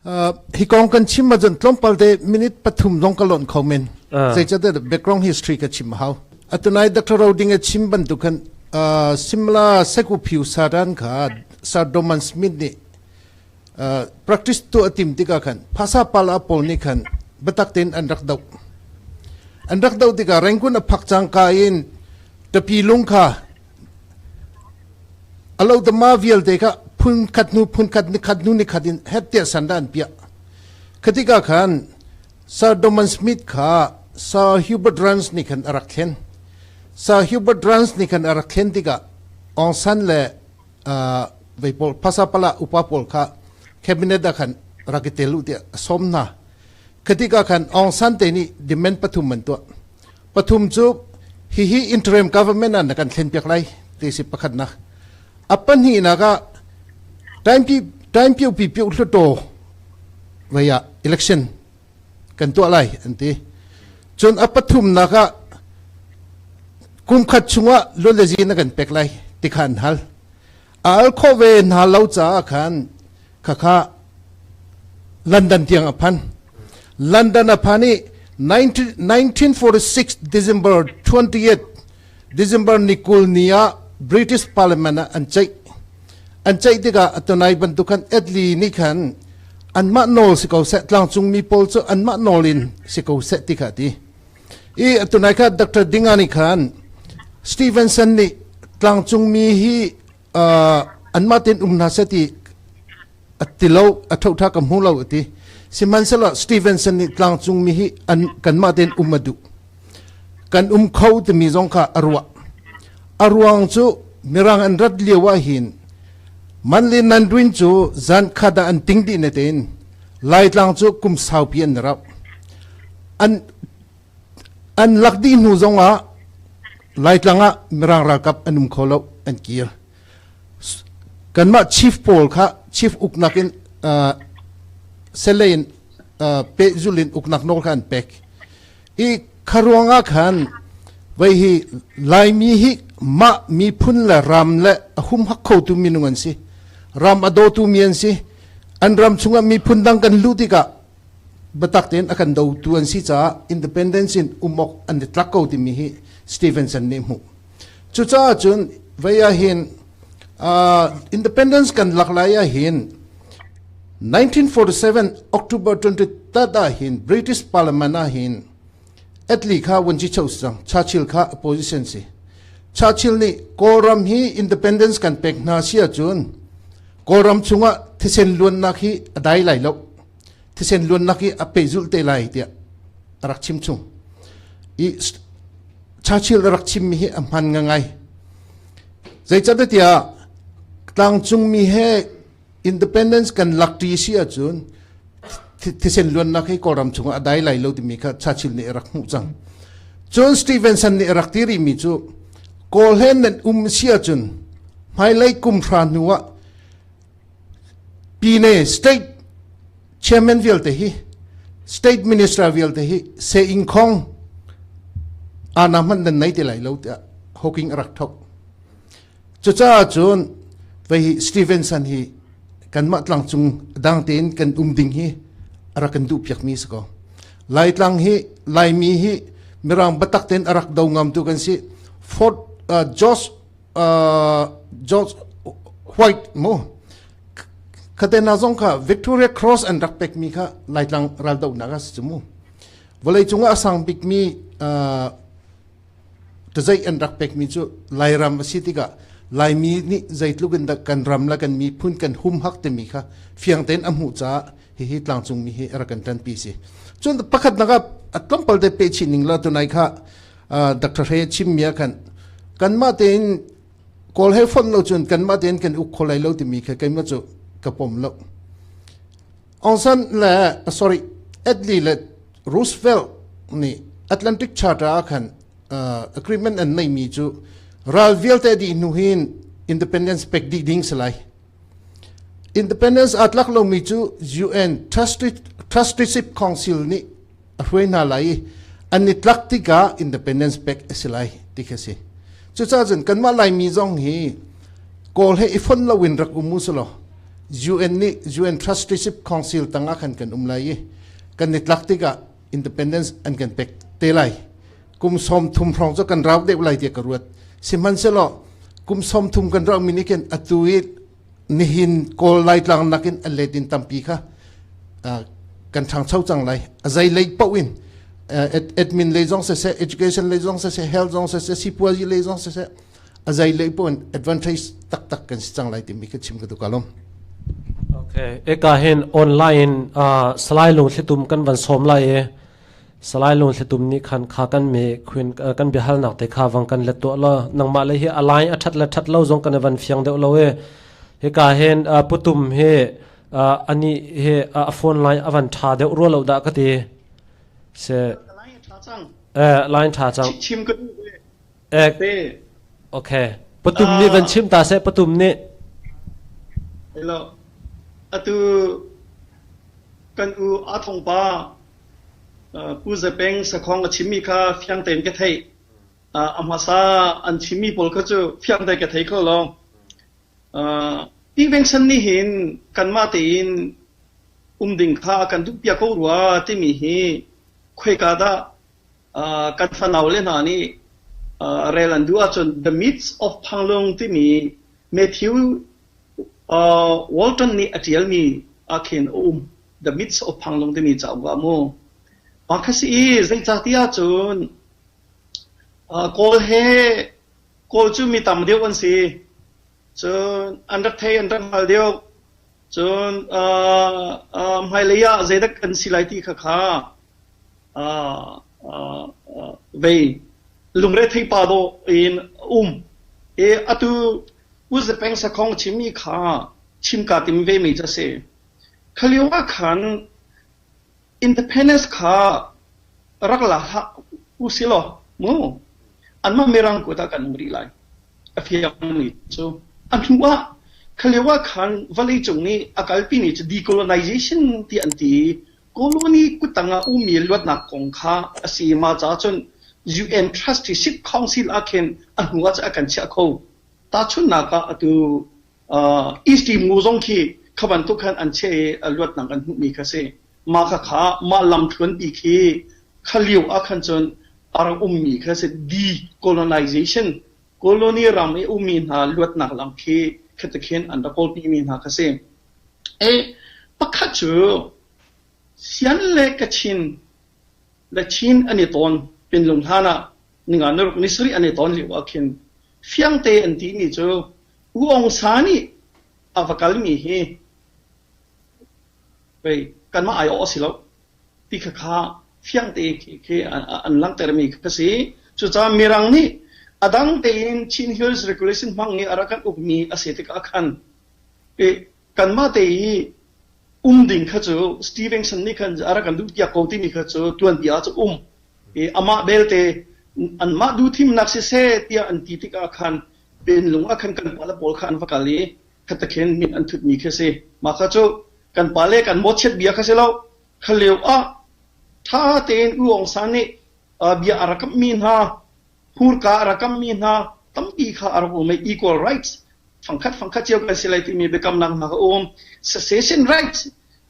hi kong kan chim ma cun tlawmpal te minute pathum zong ka lonh kho men zeicahtiah background history ka chim hau atunai dr roding a chim bantuk khan simla sekuphiu saran kha sir doman smith nih practice tu a tim tikah khan phasa pala pawl nih khan biatak tein an rak doh an rak doh tikah rengkun a phak cangka in tapi lung kha alotama vialte kha phun khat hnu phun khat ni khat hnu ni khat in hettia san dan pia khatika khan sir Doman Smith kha Sir Hubert Rance ni khan arak thlen Sir Hubert Rance ni khan arak thlen tikah Aung San le vei pawl phasa pala upa pawl kha cabinet ah khan rak i tel u tiah a sawm hna khatik ah khan Aung San te nih demand pathum an tuah pathum cu hihi interim government ah na kan thlen piak lai ti si pakhatnak a pahnih nak ah time pi time piu pi piu hluto vaya election kan tuah lai an ti cun a pathumnak ah kumkhat chungah lun le zi na kan pek lai ti kha an hal a al kho ve hna lo caah khan khakha london tiang a phan london a phan i 1946 december 28 December ni kul ni ah British Parliament ah an ceih. An ceih tikah atunai bantuk khan Italy nih khan anmah nawl si ko seh tlangcungmi pawl cu anmah nawl in si ko seh ti kha ti i atunai kha Dr. Dinga nih khan Stevenson nih tlangcungmi hi anmah ten um hna seh ti ati lo a thotha ka hmu lo ati sihmanhsehlaw Stevenson nih tlangcung mi hi an kanmah ten um a duh kan um kho timi zong kha a ruah a ruang cu mirang an rat lio ah hin manli nanduin cu zan khada an ting di ne tein laitlang cu kum saupi an rauh an An lak dih hnu zongah Laitlang ah Mirang ralkap an um kho lo an kir. Kanmah chief pawl kha chief uknak in uh, selei in uh, pehzul in uknak nawl kha an pek. I kharuang ah khan vai hi Laimi hi mah miphun le ram le a hum hak kho tu minung an si. Ram a daw tu mi an si. An ram chungah miphun dang kan luh tikah biatak tein a kan dotu an si caah independence in um awk an i tlak ko timi hi Stevenson nih hmuh. Cucaah cun vei ahhin uh, independence kan lak lai ahhin 1947 October 23 ahhin British Parliament ahhin atli kha wanji chau sang Churchill kha opposition si Churchill nih Kawlram hi independence kan pek hna si ahcun Kawlram chungah thisen luannak hi a dai lai lo thisen luannak i a pehzulh te lai tiah a rak chim chung i Churchill a rak chimmi hi a hman ngai zeicatiah tlangcungmi he independence kan lak ṭi si ahcun thisen luannak hi kawlram chungah a dai lai lo timi kha Churchill nih a rak hmuh cang cun Stevenson nih a rak ti rimi cu kawlhen nan um si ahcun hmailei kum hra hnu ah Pyine state chairman vialte hi state minister vialte hi se ing khong ana hman nan nei te lai lo tiah hawking a rak thok cucaah cun vei hi Stevenson hi kanmah tlang cung dang tein kan um ding hi ara kan duh piak mi si ko lai tlang hi laimi hi mirang batak ten arak do ngam tu kan si Fort uh, George George White mu khatena zong kha Victoria Cross an rak pek mi kha laitlang ral do nak as mu vawlei cung a sang bik mi tazai an rak pek mi cu lairam asi tika laimi ni zeitluk in kan ram la kan mi phun kan hum hak te mi kha fiang ten a mu cha hi hi tlangcung mi hi ra kan tan pi si cun pakhat naka at tlom palte pe chi ning la tunai kha Dr. Hre chimmi ah khan kanmah tein kawl he fon lo cun kanmah tein kan uk kho lai lo timi kha keimah cu ka pom lo Aungsan le sorry Adley le Roosevelt nih Atlantic Charter ah khan uh, agreement an neimi cu ral vialte dih hnu hin independence pek dih ding si lai independence atlak lomi cu UN Trusteeship Council nih a hruai hna lai i an i tlak tikah independence pek a si lai ti khi a si cucaah cun kanmah laimi zong hi kawl he i fon loin rak um u selaw UN nih UN Trusteeship Council tangah khan kan um lai i kan i tlak tikah independence an kan pek te lai kum som thum hrawng cu kan rau deuh lai tiah ka ruat sihmanhselaw kum som thum kan rauhmi nih khin atu i nihin Kawl Laitlang nakin an letin tampi kha kan ṭhangcho cang lai. A zei lei paoh in admin lei zong siseh, education lei zong siseh, health zong siseh, sipuazi lei zong siseh, a zei lei paoh in advantage taktak kan si cang lai timi ka chim ka duka lom. Okay, eka hin online uh, salai lung thlitum kan van som lai e Salai Lungthlitum nih khan kha kan mee kan biahalnak te kha vang kan let tuah law nangmah le hi a lai a ṭhat le ṭhat lo zong kan i van fiang deuh lo i hika hin putum hi anih hi a phone line a van ṭha deuh rua lo dah ka ti. Si. Lai ṭha cang. Eh, line ṭha cang. Chim ka duh. Ek. Ok. Patum nih van chim ta seh, patum nih. Hello. Atu kan u a thong pa pu zapeng sakhong a chimi kha fiang tein ke thei amasa an chimi pol kha chu fiang te ke thei ko long tiveng san ni hin kanma tein um ding kha kan dup pia ko rua timi hi khoi ka da kan fanaule hna nih rel an duh ahcun The Myths of Panglong timi Matthew Walton nih a ṭialmi ah khin a um. The Myths of Panglong timi cauk ah mu. Mah kha si i zeicahtiah cun Kawl he Kawl cu mi tam deuh an si. Cun an rak thei an rak hngal deuh. Cun aa aa hmailei ah zeidak kan si lai ti kha kha aa aa aa vei lungretheihpa dawh in a um i atu Uzepeng sakhong chimmi kha chimka tim vemi cu a si. Kha lio ah khan Independence kha rak la hlah usilaw mu anmah mirang kuat ah kan um rih lai a fiangmi cu a hnu ah khalio ah khan vawleicung nih a kalpi ni cu decolonization tiah an ti i colony kutang ah ummi luatnak kong kha a si ma caah cun UN Trust hi Sit Council ah khin a hnu ah cun a kan chiah kho tahchunhnak ah atu East Timgu zong khi kha bantuk khan an cheh i a luatnak kan hmuhmi kha a si. Mah khakha mah lamthluanpi khi kha lio ah khan cun a rak ummi kha a si decolonization colony ram i ummi hna luatnak lam khi khatikhin an rak kawlpimi hna kha si. E, pakhat cu Sian le Kachin le Chin an i tawn pinlung hlan ah ninga niruk ni sarih an i tawn lio ah khin fiangte an timi cu U Aung Sa nih a va kalmi hi pei kanmah aiawh a si lo ti khakha fiang tein khi an langhtermi ka si. Cucaah Mirang nih a dang tein Chin Hills Regulation hmang i a rak kan ukmi a si tikah khan kanmah te i um ding kha cu Stevenson nih khan a rak kan duhpiak ko timi kha cu tuanbia ah cu um. Amah belte anmah duhthimnak siseh tiah an ti tikah khan Penlung ah khan kan pale pawl kha an va kal i khatakhin min an thutmi khi a si. Mah kha cu kan pale kan mawchiat bia kha si lo, kha lio ah ṭha tein U Aung San nih uh, bia a rak kamhmi hna, hmurka a rak kamhmi hna, tampi kha a rak um i equal rights fangkhat fangkhat cio kan si lai timi biakamnak hna kha um. Secession rights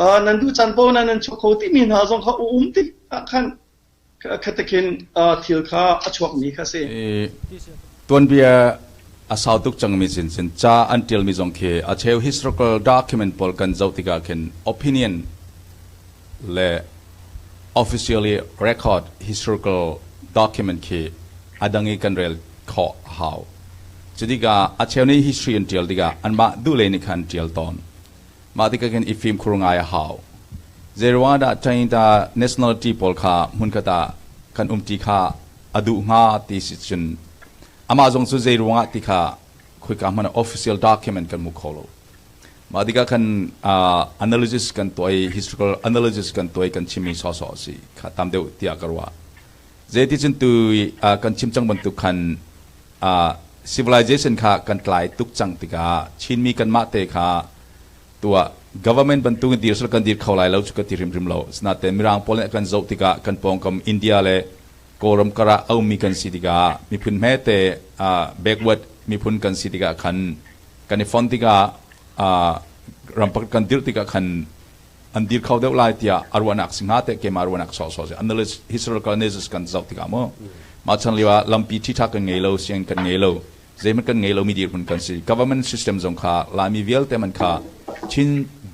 uh, nan duh caan paoh na nan chuah kho timi hna zong kha um ti ah khan Tuanbia a sau tuk cangmi sinchin ca an ṭialmi zong khi a cheu historical document pawl kan zoh tikah khin opinion le officially record historical document khi a dang i kan rel khawh a hau. Cutikah a cheu nih history an ṭial tikah anmah duh lei nih khan ṭial tawn. Mah tikah khin i fimkhur ngai a hau. Zeiruangahdah Trinidad nationality pawl kha hmunkhat ah kan um ti kha a duh hnga ti si cun amah zong cu zei ruangah ti kha khoika hmanh ah official document kan hmu kho lo. Mah tikah khan uh, analysis kan tuah i historical analysis kan tuah i kan chimmi sawsawh a si kha tam deuh tiah ka ruah. Zeiti cun tu kan chim cang bantuk khan civilization kha kan tlai tuk cang tikah Chinmi kanmah te kha tuah government bantuk in dir sal kan dir kho lai lo cu ka ti hrimhrim lo sinaten mirang pawl nih kan zoh tikah kan pawngkam India le Kawlram kar ah aumi kan si tikah miphun hmete backward miphun kan si tikah khan kan i fon tikah ram pakhat kan dirh tikah khan an dir kho deuh lai tiah a ruahnak si hnga teh keimah ruahnak sawhsawh si unless historicalness kan zoh tikah maw mah chan lio ah lampi ṭhitha kan ngei lo siang kan ngei lo zeihmanh kan ngei lo mi dirhmun kan si government system zong kha laimi vialte man kha chin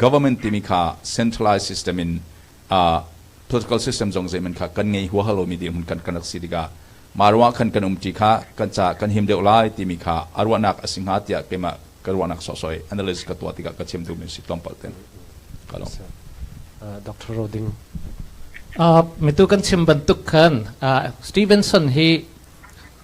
government timi kha centralized system in uh, political system zong zeiman kha kan ngei huahal lomi dirhmun kan kan rak si tikah mah ruang khan kan um ti kha kan ca kan him deuh lai timi kha a ruahnak a si hnga tiah keimah Ka ruahnak sawhsawh analysis ka tuah tikah ka chim duhmi si tlawmpal ten ka lung. Doctor Roding. Uh, mitu kan chim bantuk khan uh, Stevenson hi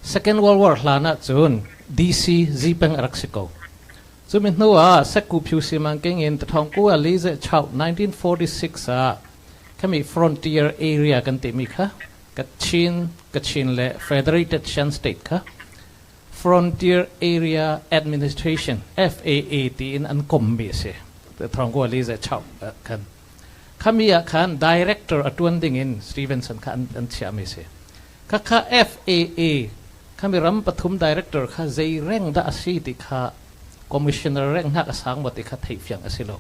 Second World War hlan ah cun DC Zipeng a rak si ko. Cu mi hnu ah Seku Pyusimang king in Thawngku Ali ze chau 1946 ah kami Frontier Area kan timi kha Kachin, Kachin le Federated Shan State kha Frontier Area Administration, FAA, tiin an kommi a si. Thawngkua li zei chap khan. Khami ah khan director a ṭuan ding in Stevenson kha an, an chiahmi a si. Khakha FAA, khami ram pathum director kha zei reng dah a si ti kha Commissioner renghnak a sang maw ti kha theih fiang a si lo.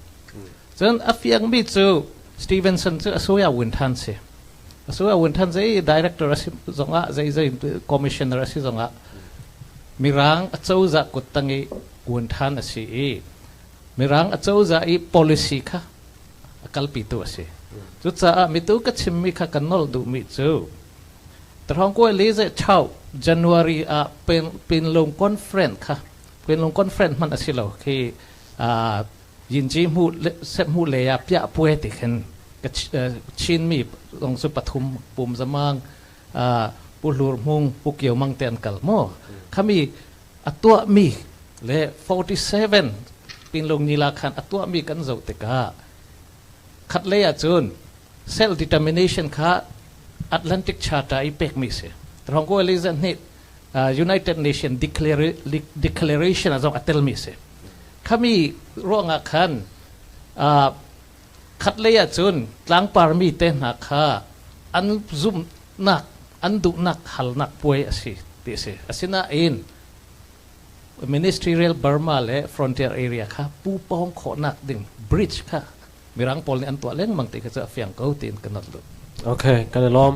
Cun a fiangmi cu Stevenson cu a suya win ṭhan si. A suya win ṭhan zei director a si zongah zei zei commissioner a si zongah Mirang a cozah kut tang i win ṭhan a si i Mirang a cozah i policy kha a kalpitu a si. Cucaah mitu ka chimmi kha kan nolh duhmi cu Tarhongkue Lizechao January ah Pinlung Conference kha Pinlung Conference hmanh a si lo khi Yinci hmuh lei ah piah puai ti khin Chinmi zong cu pathum pum zamang Pu Hlur Hmung, Pu Kio Mang te an kal maw? Khami a tuahmi le 47 Pinlung Nila khan a tuahmi kan zoh tikah khatlei ahcun self determination kha Atlantic Charter i pekmi a si. Thawngkaw Elizabeth nih United Nations Declaration a zong a telmi a si. Khami ruangah khan khatlei ah cun tlangparmi te hna kha an zumhnak, an duhnak halnak puai a si ti a si. Asinain Ministerial Burma le Frontier Area kha pu pawng khawhnak ding bridge kha Mirang pawl nih an tuah lengmang ti kha cu a fiang ko tiin ka not lut. Okay, kan i lawm.